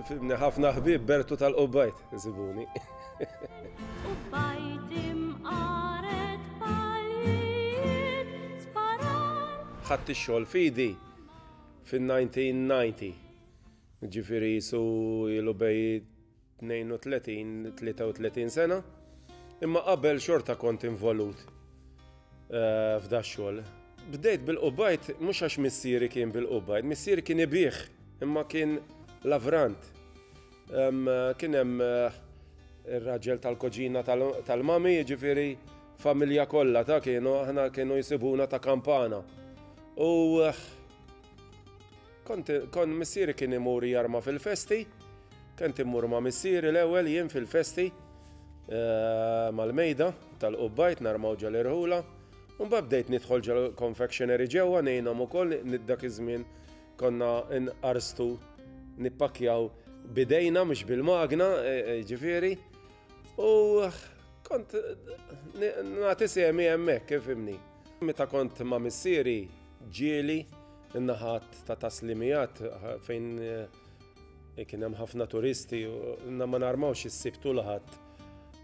Fimni ħafna ħbib Bertu tal-Qubbajt, zibuni. ħadd ix-xogħol fidi fin-1990. Ġifieri su ilu bej 32, 33 sena, imma qabel xorta kont involut eh, f'da xogħol. Bdejt bil-qubajt, mhux għax missieri kien bil-qubajt, missieri kien ibih, imma kien lavrant. Kien hemm eh, ir-raġel tal-koġina tal-mami, ġifiri familja kollha ta' kienu aħna kienu jisibuna ta' kampana. U eh, Kont, kont missieri kien imur jarma fil-festi, kent imur ma' missieri l-ewwel jien fil-festi eh, mal-mejda tal-qubbajt narmaw ġal irħula. Mbagħad bdejt nidħol ġal confectionery ġewwa ngħinhom ukoll dak iż-żmien konna nqarstu nippakjaw bidejna mhux bil-magna, e, e, ġifieri. U kont nagħti semi hemmhekk kif imni. Meta kont ma' missieri ġieli In-naħat ta' taslimijat fejn eh, kien hemm ħafna turisti, inna ma narmawx is-sibtu laħat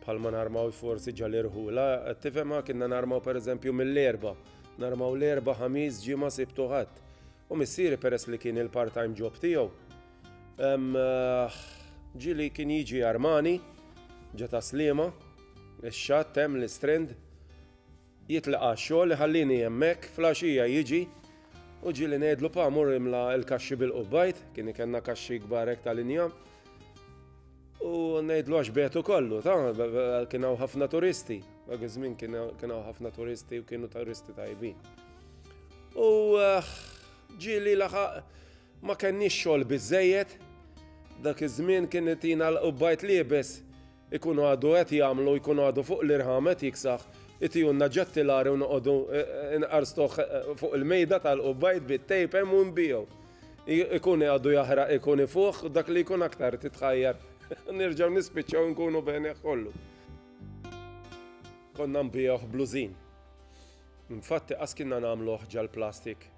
bħal ma narmaw forsi ġalirħu. La, tifhem kienna narmaw per eżempju mill-erba, narmaw l-erba ħamis ġimgħa sibtu ħadd. U missieri peress li kien il-part-time job tiegħu. Eh, ġili kien jiġi armani, ġa taslima, ix-xatt hemm l-istrend, Jitlaq għax-xogħol, iħallini hemmhekk, flaxija jiġi u ġieli ngħidlu pa mur imla l-kaxxi bil-qubbajt, kien ikenna kaxxi kbar hekk ta' linja, u ngħidlu għax betu kollu, ta' kien hawn ħafna turisti, dak iż-żmien kien hawn ħafna turisti u kienu turisti tajbin. U eh, ġieli laħaq ma kenniex xogħol biżejjed, dak iż-żmien kien itina l-qubbajt liebes Ikun għadu qed jagħmlu, jkun għadu fuq l-irħam qed jiksaħ, itihulna ġattilari u noqogħdu nqarstuh fuq il-mejda tal-qubba jitbiet tape hemm u nbigħu. Ikun għadu jaħraq ikun ifuħ u dak li jkun aktar titħajjar nerġgħu nispiċċaw nkunu bejnieh kollu. Konna nbigħuh blużin. Infatti qas kienna nagħmluh ġall-plastik.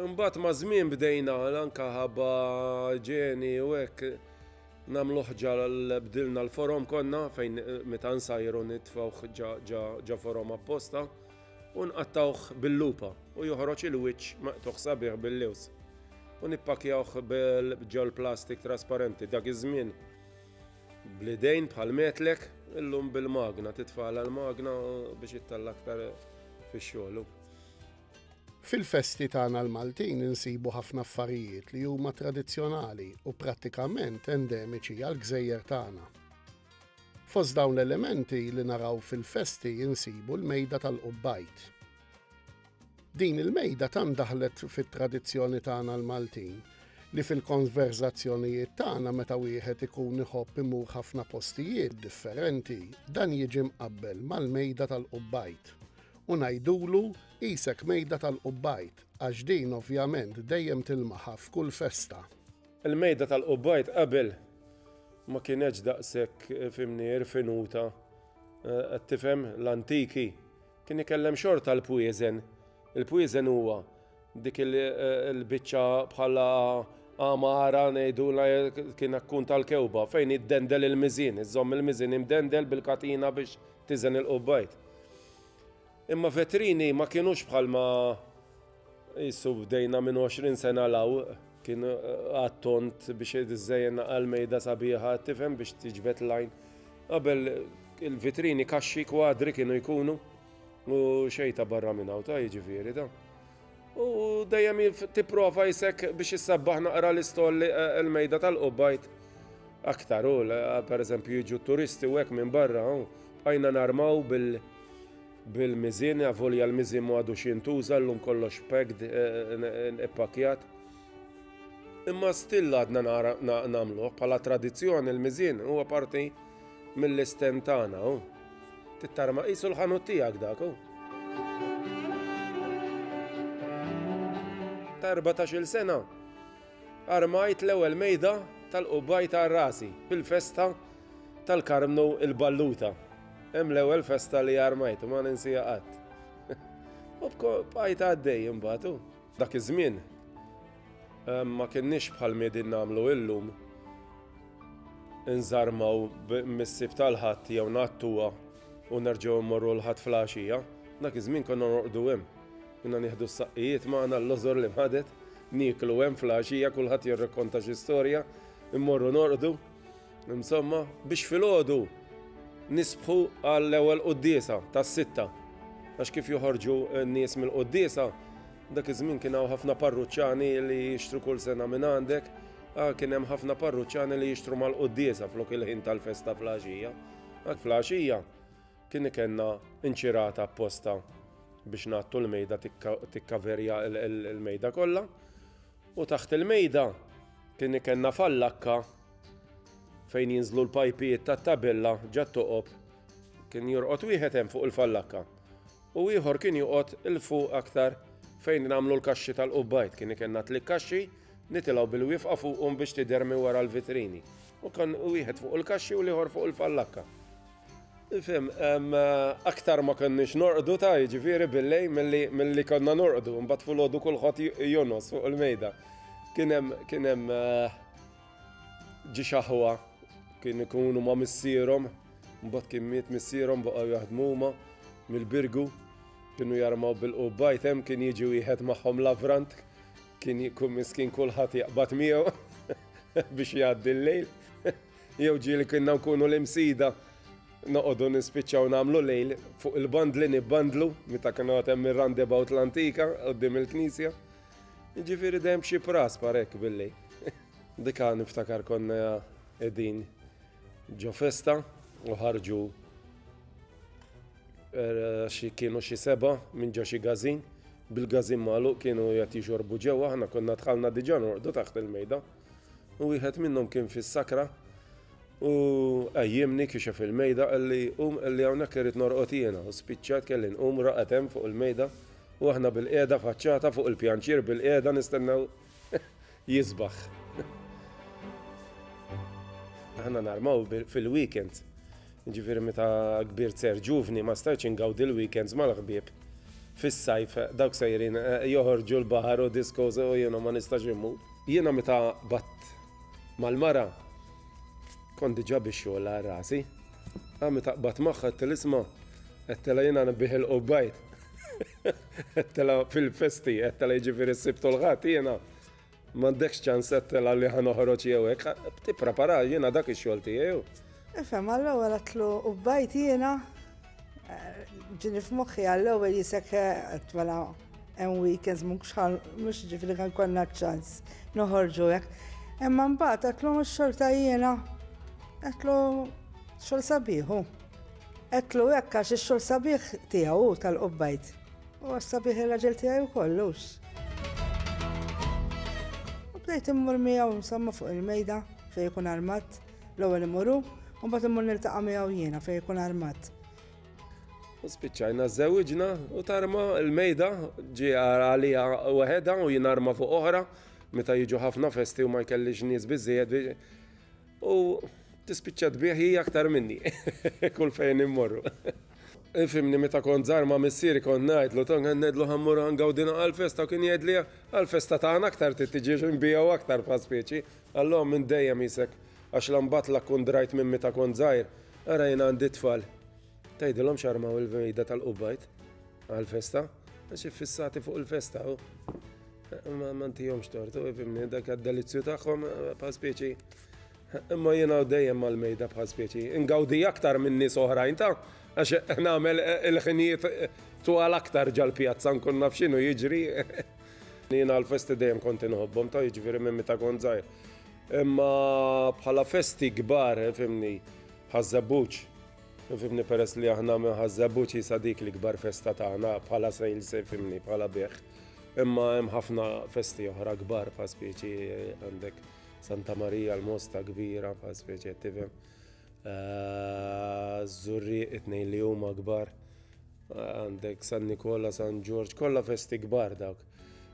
Imbagħad maż-żmien bdejna anke ħabba ġeni u hekk nagħmlu ħġa bdilna l-forom konna fejn meta nsajru nitfgħuh ġa forom apposta u nqattawh bil-lupa u joħroġ il-wiċċ maqtugħ sabiħ bil-lews u nippakjawh ġol plastik trasparenti dak iż-żmien bl-idejn bħal metlek illum bil-magna titfagħla l-magna biex ittella' aktar fix-xogħol. Fil-festi tagħna l-Maltin insibu ħafna affarijiet li huma tradizzjonali u prattikament endemiċi għall-gżejjer tagħna. Fost dawn l-elementi li naraw fil-festi insibu l-mejda tal-qubbajt. Din il-mejda tant daħlet fit-tradizzjoni tagħna l-Maltin li fil-konverżazzjonijiet tagħna meta wieħed ikun iħobb imur ħafna postijiet differenti, dan jiġi mqabbel mal-mejda tal-qubbajt u ngħidulu qisek mejda tal-Qubbajd għax din ovvjament dejjem tilmaha f'kull festa. Il-mejda tal-Qubbajd qabel ma kienetx daqshekk fhimni irfinuta qed tifhem l-antiki kien ikellem xorta l-pwieżen. Il-pwieżen huwa Dik il-biċċa bħala għamara ngħidulha kien akkun tal-kewba fejn jiddendel il-miżin, iżomm il-miżin imdendel bil-katina biex tiżen il-qubbajt. Imma vetrini ma kienux bħalma jissu bdejna minn 20 sena law kien eh, għattont biex id-żejjen għal-mejda sabiħa tifhem biex tiġbet lajn. Qabel il-vitrini kaxxi kwadri kienu jkunu. U xej ta' barra minn hawn ta' jiġifieri da. U dejjem tipprova jisek biex issabbaħ naqra l-istolli eh, l-mejda tal-qubbajt. Aktar u eh, per eżempju jiġu turisti u hekk minn barra u bqajna narmaw bil- bil-mizin, għavolja l-mizin mu għadu xintuża l-lum kollox pegd eh, ippakjat. Imma still għadna namlu, pala tradizjoni l-mizin huwa parti Mill-istand tagħna hu. Tittarma qisu l-ħanut tiegħek dak hu. Ta' 14-il sena armajt l-ewwel mejda tal-qubbaj ta' rasi fil-festa tal-Karmnu il-Balluta. Hemm l-ewwel festa li armajt u ma ninsiha qatt. U bqajt għaddej imbagħad hu. Dak iż-żmien Ma kienniex bħal m'iedin nagħmlu illum, inżarmaw mis-Sibt għal Ħadd jew ngħattuha u nerġgħu mmorru l-Ħadd fl-għaxija. Dak iż-żmien konna norqdu hemm. Kienna nieħdu s-saqqijiet magħna l-lożor li mħadet, nieklu hemm fl-għaxija kulħadd jirrakkonta xi storja, immorru norqdu. Insomma, biex filgħodu nisbħu għall-ewwel quddiesa tas-sitta. Għax kif joħorġu n-nies mill-quddiesa, Dak iż-żmien kien hawn ħafna parruċċani li jixtru kull sena minn għandek, ah, kien hemm ħafna parruċċani li jixtru mal-quddiesa flok il-ħin tal-festa fl-għaxija. Dak fl-għaxija kien ikenna inċirata apposta biex nattu l-mejda tikkaverja l-mejda kollha. U taħt il-mejda kien ikenna fallakka fejn jinżlu l-pajpijiet tat-tabella ġat toqob kien jorqod wieħed hemm fuq il-fallakka. u ieħor kien joqgħod 'il fuq aktar fejn nagħmlu l-kaxxi tal-qubbajd. Kien ikenna tliet kaxxi, nitilgħu bil-wifqa fuqhom biex tidher minn wara l-vitrini. U kien wieħed fuq il-kaxxi u l-ieħor fuq il-fallakka. Fim, aktar ma konniex norqdu ta' jiġifieri bil-lejl milli konna norqdu, imbagħad filgħodu kulħadd jonos fuq il-mejda. Kien hemm Ġie xaħwa, kien ikunu ma' missierhom, mbagħad kien miet missierhom baqgħu jaħdmu huma mill-Birgu, kienu jarmaw bil-qubbajt hemm kien jiġi wieħed magħhom lavrant, kien jkun miskin kulħadd jaqbad miegħu biex jgħaddi l-lejl. Jew ġieli kienna nkunu l-imsida noqogħdu nispiċċaw nagħmlu lejl fuq il-bandli nibbandlu meta kienu għad hemm ir-roundabout l-antika qudiem il-knisja. Jiġifieri dejjem b'xi pras parek billi. Dika niftakar konna qegħdin ġo festa u ħarġu er, xi kienu xi seba' minn ġo xi gazin bil-gazin magħluq kienu qed jixorbu ġewwa aħna konna dħalna diġà norqdu taħt il-mejda. u wieħed minnhom kien fis-sakra u għajjimni kixef il-mejda għalli um għalli hawnhekk irid norqod jiena u spiċċat kelli nqum raqet hemm fuq il-mejda u aħna bil-qiegħda faċċata fuq il-pjanċir bil-qiegħda nistennew jisbaħ. Aħna narmaw fil-weekend Jiġifieri meta kbirt ser ġuvni ma stajtx ingawdi l-weekends mal-ħbieb. Fis-sajf dawk sejrin joħorġu l-baħar u discos u jiena ma nistax immur. Jiena meta qbadt mal-mara kont diġà bix-xogħol għal rasi. Imma meta qbadt magħha għedtilha isma' għedtilha jiena nebbieħ il-qubbajd. Għedtilha fil-festi, għedtilha jiġifieri s-Sibt u l-Ħadd jiena M'għandekx ċans qed telgħa li ħa noħroġ jew hekk. Tipprepara, jiena dak ix-xogħol tiegħi u. Ifhem, għall-ewwel għedtlu u bajt jiena ġini f'moħħi għall-ewwel jisek qed mela hemm weekends mhux mhux ġifieri kan konna ċans noħorġu hekk. Imma mbagħad qedtlu x-xorta jiena qedtlu xogħol sabiħu. Qedtlu hekk għax ix-xogħol sabiħ tiegħu tal-qubbajt. U għas-sabiħ ir-raġel tiegħi wkoll hux. U bdejt immur miegħu insomma fuq il-mejda fejn ikun armat, l-ewwel imuru, u mbagħad immur niltaqa' miegħu jiena fejn ikun armat. U spiċċajna żewġna u tarma l-mejda ġi għalija weħeda u jien arma fuq oħra meta jiġu ħafna festi u ma jkellix nies biżżejjed U tispiċċa tbigħ hi aktar minni kull fejn immorru. Ifimni meta kont żgħar ma' missieri kont ngħidlu tong qed ngħidlu ħammur ngawdina għall-festa u kien jgħidli għall-festa tagħna aktar trid tiġi nbigħu aktar bħal speċi. Allò minn dejjem qisek għax la mbagħad la kkun drajt minn meta kont żgħir, ara jien għandi t-tfal. Tgħidilhom x'armaw il-vejda tal-qubbajt għall-festa, għax iffissati fuq il-festa u ma mantijomx tortu, fimni, dak għad-delizzju tagħhom eh, bħal speċi. Imma jiena dejjem mal-mejda bħal speċi. Ingawdi aktar minn nies oħrajn ta' għax nagħmel eh, il-ħinijiet eh, twal aktar ġal-pjazza nkun naf x'inhu jiġri. Jiena l-festi dejjem konti nħobbhom ta' jiġifieri minn meta kont żgħir. Imma bħala festi kbar, fimni, ħaż-żebbuġ, Fimni peress li aħna minħa żebbuġ jisa dik li kbar festa tagħna bħala sejl se fimni bħala bih. Imma hemm ħafna festi oħra kbar fa' speċi għandek Santa Marija l-Mosta kbira fa' speċi qed tifhem. Eh, Zurri it-tnejn li huma kbar. Eh, għandek San Nikola, San Ġorġ, kollha festi kbar dawk.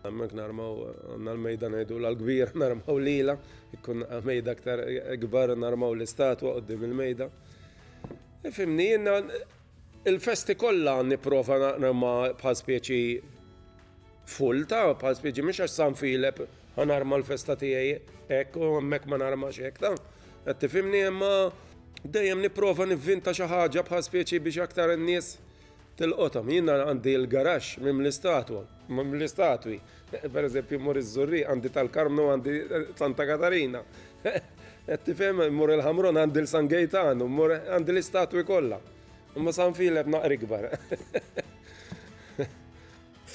Hemmhekk narmaw għandna l-mejda ngħidu l-kbir narmaw lila, ikkun mejda aktar kbar narmaw l-istatwa qudiem il-mejda. E fimni jiena il-festi kollha nipprova narma bħal speċi full ta' bħal speċi mhux għax San Filep ħanarma l-festa tiegħi hekk u hemmhekk ma narmax hekk ta' qed tifhimni imma dejjem nipprova nivvinta xi ħaġa bħal speċi biex aktar in-nies Tilqothom. Jien għandi l-garaxx mimli statwa, mimli statwi. Per eżempju, mmur iż-Żurrieq, għandi tal-Karmnu, għandi Santa Katarina. Qed tifhem, mmur il-Ħamrun, għandi l-San Gejtan, mmur għandi l-istatwi kollha. Imma San Filep naqra ikbar.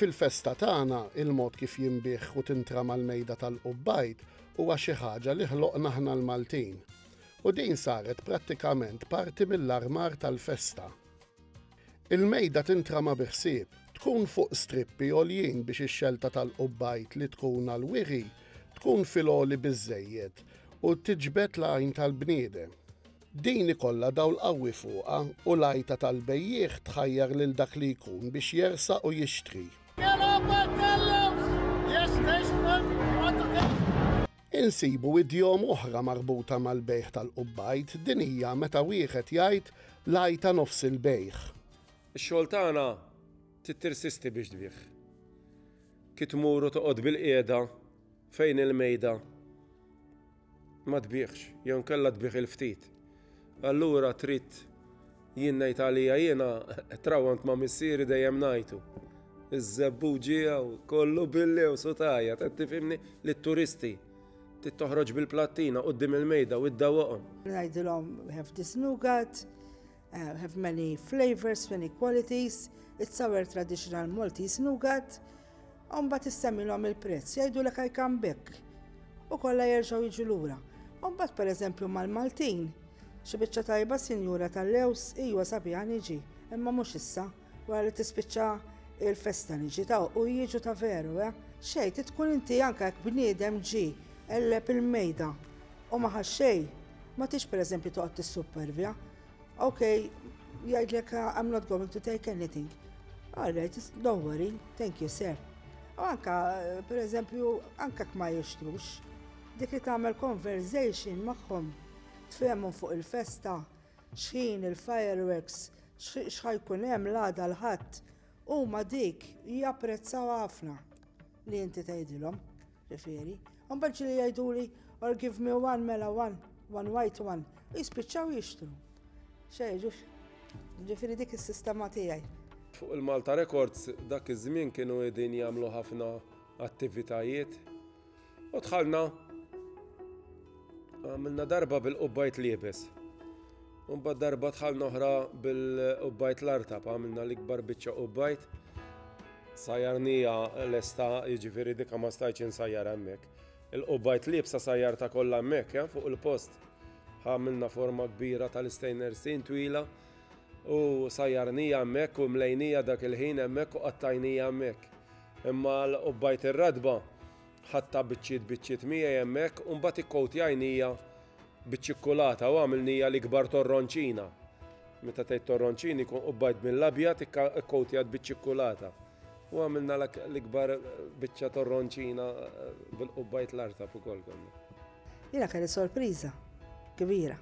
Fil-festa tagħna, il-mod kif jinbiegħ u tintrama l-mejda tal-qubbajd huwa xi ħaġa li ħloqna aħna l-Maltin. U din saret prattikament parti mill-armar tal-festa. Il-mejda tintrama bi ħsieb, tkun fuq strippi għoljin biex ix-xelta tal-qubbajt li tkun għall-wiri tkun fil-għoli biżżejjed u tiġbed l-għajn tal-bniedem. Din ikollha dawl qawwi fuqha u l-għajta tal-bejjiegħ tħajjar lil dak li jkun biex jersaq u jixtri. Insibu idjom oħra marbuta mal-bejgħ tal-qubbajt, din hija meta wieħed jgħid l-għajta nofs il-bejgħ. Ix-xogħol tagħna trid tirsisti biex tbigħ. Ki tmur u toqgħod bilqiegħda fejn il-mejda ma tbiegħx jew inkella tbiegħ il-ftit. Allura trid jien ngħid għalija jiena trawwant ma' missieri dejjem ngħidu. Iż-żebbu ġieha u kollu billi u sutajja, qed tifhimni li t-turisti trid toħroġ bil-plattina quddiem il-mejda u iddawwaqhom. Ngħidilhom we have this nougat, we have many flavours, many qualities, it's our traditional Maltese nougat. U mbagħad issemmilhom il-prezz, jgħidulek I come back. U kollha jerġgħu jiġu lura. U mbagħad pereżempju mal-Maltin, xi biċċa tajba sinjura tal-lews, ijwa sabiħa niġi, imma mhux issa, wara li tispiċċa il-festa niġi ta' u jiġu ta' veru, eh? Xejn, ti tkun inti anke jekk bniedem ġi qelleb il-mejda u ma ħax xejn, ma tix pereżempju toqgħod tissupervja. Ok, jgħidlek I'm not going to take anything. All right, don't worry, thank you sir. U anka, per eżempju, anka kma jixtrux, dik li tagħmel conversation magħhom tfehmu fuq il-festa, xħin il-fireworks, xħajkun hemm l-għada l-ħadd, huma dik japprezzaw ħafna. Li inti tgħidilhom, refieri, imbagħad ġieli jgħiduli or give me one mela one, one white one, u jispiċċaw jixtru. Xejn, ġux, ġifieri dik is-sistema tiegħi. Fuq il-Malta Records dak iż-żmien kienu qegħdin jagħmlu ħafna attivitajiet u dħalna Għamilna darba bil-qubbajt liebes. Unbad darba tħalna oħra bil-qubbajt l-artab, għamilna l-ikbar biċċa qubbajt. Sajarnija l-esta, jiġifieri dika ma stajċ insajjar hemmhekk. Il-qubbajt liebsa sajjarta kollha hemmhekk, ja, fuq il-post. Għamilna forma kbira tal-istejner sin twila u sajjarnija hemmhekk u mlejnija dak il-ħin hemmhekk u qattajnija hemmhekk. Imma l-qubbajt ir-radba Ħadtha biċċiet biċċiet miegħi hemmhekk u mbagħad ikkowtjajnija biċ-ċikkulata u għamilnija l-ikbar torronċina. Meta tgħid torronċini jkun qubbajt mill-abjad ikkowtjat biċ-ċikkulata. U għamilna l-ikbar biċċa torronċina eh, bil-qubbajt l-artab ukoll konna. Jiena kelli sorpriża kbira.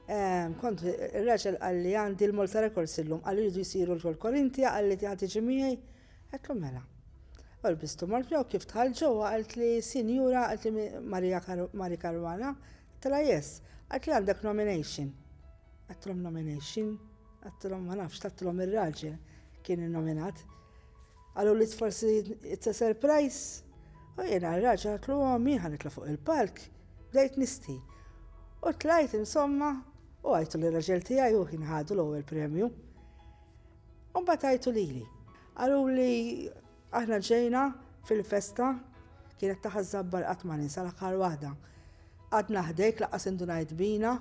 Ehm, kont ir-raġel għalli għandi l-Malta Records illum għalli jridu jisiru l-Korintia għalli tiegħi tiġi miegħi Għedt lu mela. U lbistu mort miegħu kif dħalt ġewwa qalt li sinjura qalt li Maria Mari Caruana għedtilha yes. Qalt li għandek nomination. Għedtilhom nomination? Għedtilhom ma nafx tattilhom ir-raġel kien innominat. Qalu li forsi it's a surprise. U jiena r-raġel għedt lu ommi ħa nitla' fuq il-palk bdejt nisti. U tlajt insomma u għajtu lir-raġel tiegħi u ħin ħadu l-ewwel premju. U mbagħad għajtu lili. Qalu li aħna ġejna fil-festa kienet taħa żabbar qatt ma ninsa l-aħħar waħda. Għadna ħdejk laqas indunajt bina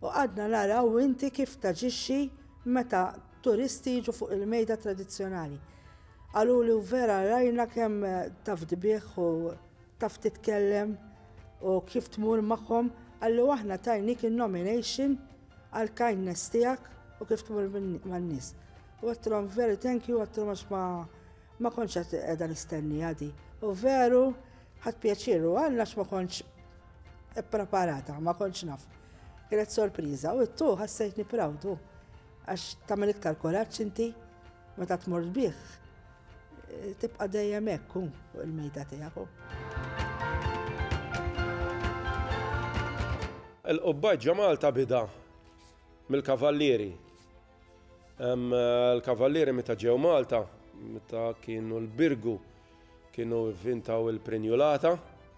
u għadna naraw inti kif taġixxi meta turisti jiġu fuq il-mejda tradizzjonali. Qalu li vera rajna kemm taf dbieħ u taf titkellem u kif tmur magħhom, għallu aħna tajnik il-nomination għall-kindness tiegħek u kif tmur man-nies. U għattilhom very thank you għattilhom għax ma ma kontx qed qiegħda nistenni għadi. U veru ħadd pjaċiru għandna għax ma kontx ippreparata, ma kontx naf. Kienet sorpriża u t-tu ħassejtni prawdu għax tagħmel iktar kuraġġ inti meta tmur bih. Tibqa' dejjem hekk hu fuq il-mejda tiegħek hu. Il-qubbaġ ġa Malta bida mill-kavallieri. Il-kavallieri meta ġew Malta, meta kienu l-Birgu, kienu vvintaw il-prinjulata,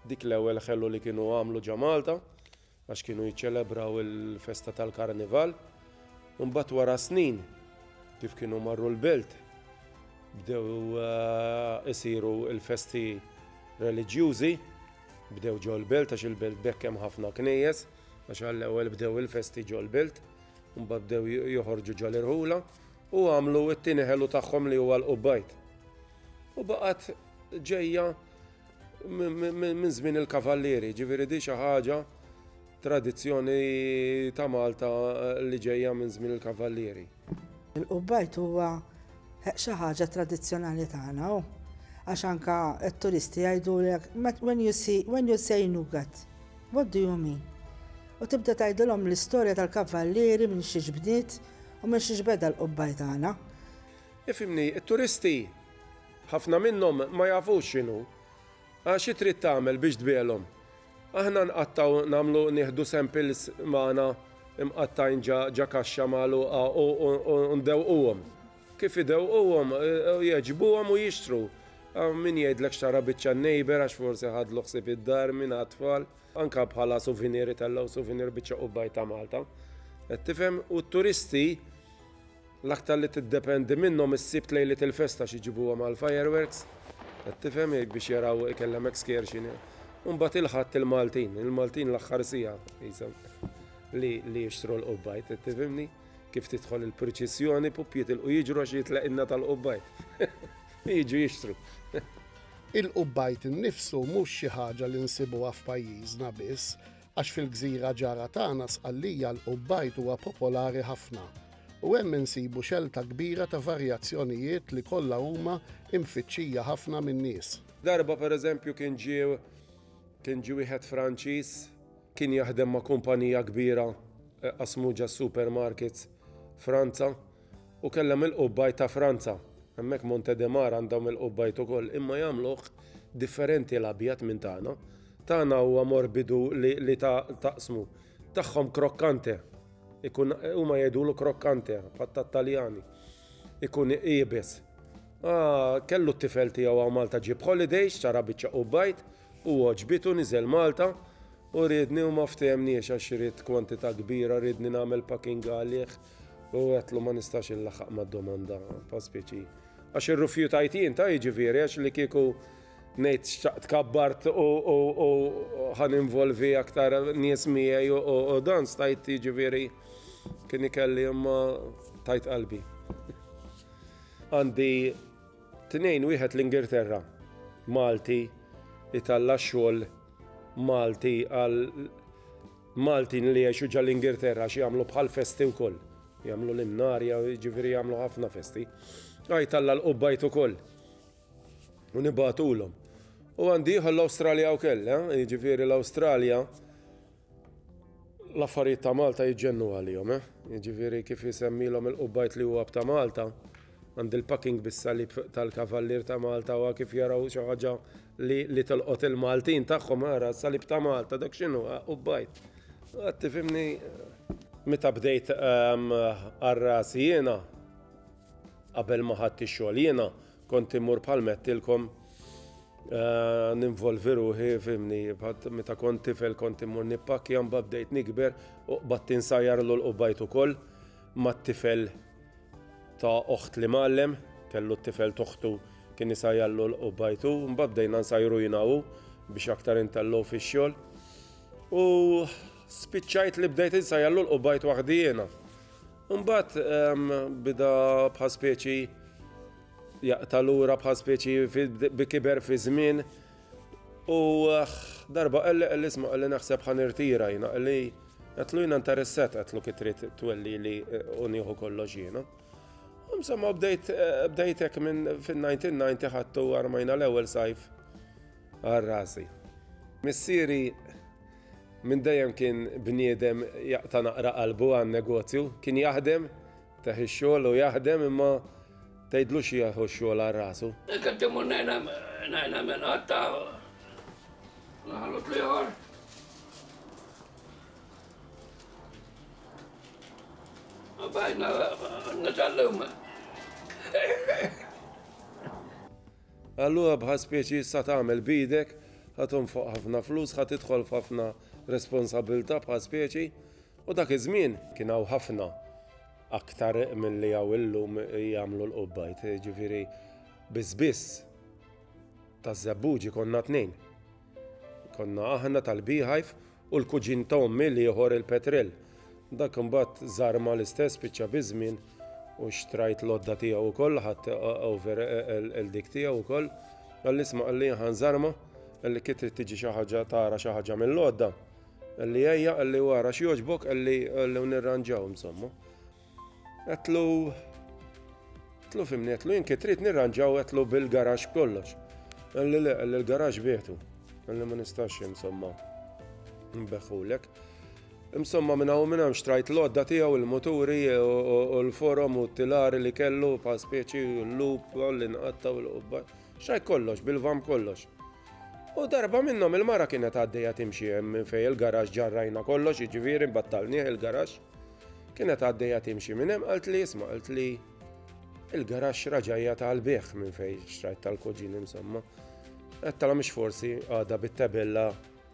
dik l-ewwel ħelu li kienu għamlu ġa Malta. għax kienu jiċċelebraw il-festa tal-Karnival, u mbagħad wara snin kif kienu marru l-belt bdew isiru l-festi reliġjużi, bdew ġol-belt għax il-belt b'hekk hemm ħafna knejjes, għax għall-ewwel bdew il-festi ġol-belt, u mbagħad bdew joħorġu ġol-irħula, u għamlu t-tieni ħelu tagħhom li huwa l-Qubbajt. U baqgħet ġejja Minn żmien il-Kavallieri, ġifieri di xi ħaġa tradizzjoni ta' Malta li ġejja minn żmien il-Kavallieri. Il-qubbajt huwa xi ħaġa tradizzjonali tagħna u għax anke t-turisti jgħidulek when you see when you say nougat, what do you mean? U tibda tgħidilhom l-istorja tal-Kavallieri minn xiex bdiet u minn xiex beda l-qubbajt tagħna. Ifhimni, it-turisti Ħafna minnhom ma jafux x'inhu. A xi trid tagħmel biex tbiegħlhom? Aħna nqattgħu nagħmlu nieħdu samples magħna mqattgħin ġa ġa kaxxa magħluqa u u ndewwquhom. Kif idewwquhom jgħeġbuhom u jixtru. Hawn min jgħidlek xtara biċċa n-neighbour għax forsi ħadlu ħsieb id-dar min għat-tfal. Anke bħala souvenir itellgħu souvenir biċċa qubaj ta' Malta. Qed tifhem? U t-turisti. L-aktar li tiddependi minnhom is-Sibt lejliet il-festa x'iġibuha mal-fireworks, qed tifhem, jgħid biex jaraw ikellem excursion. U mbagħad il-Ħadd il-Maltin, il-Maltin l-aħħar siegħa qishom li li jixtru l-qubbajt, qed tifhimni? Kif tidħol il-priċissjoni, pup jitilqu jiġru għax jitlaq inna tal-qubbajt. Jiġu jixtru. Il-qubbajt innifsu mhux xi ħaġa li nsibuha f'pajjiżna biss, Għax fil-gżira ġara tagħna Sqallija l-qubbajt huwa popolari ħafna u hemm insibu xelta kbira ta' varjazzjonijiet li kollha huma imfittxija ħafna min-nies. Darba pereżempju kien ġie kien ġie wieħed Franċiż, kien jaħdem ma' kumpanija kbira qasmu ġas-supermarkets Franza, Hu kellha mill-qubbajt ta' Franza. Hemmhekk Monte de Mar għandhom il-qubbajt ukoll imma jagħmluh differenti l-abjad minn tagħna. Tagħna huwa morbidu li li ta' taqsmu. Tagħhom croccante. Ikun huma jgħidulu croccante bħal tat-Taljani. Ikun iebes. Ah, kellu t-tifel tiegħu hawn Malta ġie b'holidays, xtara biċċa qubbajt u għoġbitu niżel Malta u riedni u ma ftehemniex għax ried kwantità kbira riedni nagħmel packing għalih. U għetlu ma nistax il-laħaq ma domanda pa' speċi. Għax il-rufjutajt jien ta' jiġifieri għax li kieku nejt xtaqt kabbart u ħan involvi aktar nies miegħi u dan stajt jiġifieri kien ikelli imma tajt qalbi. Għandi tnejn wieħed l-Ingilterra, Malti, italla xogħol Malti għal Maltin li jgħixu ġa l-Ingilterra għax jagħmlu bħal festi wkoll. Jagħmlu l-imnarja, jiġifieri jagħmlu ħafna festi. Għajt Alla l-qubbajt ukoll. U nibatulhom. U għandi ieħor l-Awstralja wkoll, eh? jiġifieri l-Awstralja l-affarijiet ta' Malta jiġġennu għalihom, eh? jiġifieri kif isemmilhom il-qubbajt li huwa b'ta' Malta. Għand il-packing bis-salib tal-Kavallier ta' Malta u kif jaraw xi ħaġa li li tolqot il-Maltin tagħhom ara salib ta' Malta dak x'inhu u bajt. Għad tifhimni meta bdejt għarras ehm, jiena qabel ma ħadd ix-xogħol jiena kont immur bħal mettilkom eh, ninvolvi ruħi fimni meta kont tifel kont immur nippakja mbagħad bdejt nikber u qbad tinsajjar l qbajt ukoll mat-tifel ta' oħt li mgħallem, kellu t-tifel t'oħtu kien isajjallu l-qu b'għajtu, mbagħad bdejna nsajru jien u hu biex aktar intellgħu fix-xogħol u spiċċajt li bdejt insajjallu l-qu b'għajt waħdi jiena. Mbagħad bida bħal speċi jaqta' lura bħal speċi bi kiber fi żmien U aħ, darba qalli qalli isma' qalli naħseb ħa nirtira jiena qalli qedtlu jiena interessat qedtlu kif trid twellili u nieħu kollox jiena. Insomma bdejt bdejt hekk minn fin-1990 ħadtu armajna l-ewwel sajf għal rasi. Missieri minn dejjem kien bniedem jaqta' naqra qalbu għan-negozju, kien jaħdem Tah ix-xogħol u jaħdem imma tgħidlux jieħu x-xogħol għal rasu. Jekk qed immur ngħin hemm qatta' l-ħanut l-ieħor. Bajna nitgħallem. Allura bħal speċi issa tagħmel bidek, ħatum fuq ħafna flus, ħad tidħol f'ħafna responsabilità bħal speċi, U dak iż-żmien kien hawn ħafna aktar milli hawn illum jagħmlu l-qubbajt, ġifieri biss biss taż-żebbuġi konna tnejn. Konna aħna tal-Beehive u l-kuġin ta' ommi l-ieħor il-Petrel. Dak imbagħad żar ma l-istess spiċċa biż-żmien u xtrajt l-għodda tiegħu wkoll ħadd over il-dik tiegħu wkoll. Għall-isma' qalli ħanżarma li kif trid tiġi xi ħaġa tara xi ħaġa mill-għodda. Qalli ejja, qalli wara x'jogħġbok, qalli qalli nirranġaw insomma. Għetlu Għetlu fimni, għetlu jinki trid nirranġaw għetlu bil-garax kollox. Għalli le, għalli l-garax bietu. Għalli ma nistax insomma. Mbeħulek. Insomma minna u minna xtrajt l-odda tijaw il-moturi u l-forum u t-tilari li kellu pa' speċi l-lup, l-inqatta u l-qubba. Xaj kollox, bil-vam kollox. U darba minnhom il-mara kienet għaddejja timxi minn fej il-garax ġarrajna kollox, jiġifieri battalnieh il-garax. Kienet għaddejja timxi minn hemm qalt li isma' qalt li il-garax raġajja tal-bieħ minn fej xtrajt tal-kuġin insomma. Għattala mhix forsi għada bit-tabella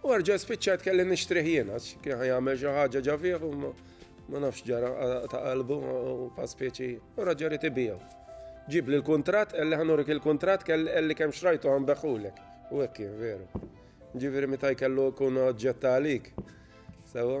U erġa' spiċċat kelli nixtrih jiena, kien jagħmel xi ħaġa ġa fih u ma nafx ġara ta' qalbu u fa' speċi u raġa rid ibijaw. Ġib li l-kontrat, għalli ħanurik il-kontrat kelli kemm xrajtu għan beħulek. U hekk kien veru. Ġifieri meta jkellu kun oġġetta għalik. Sewa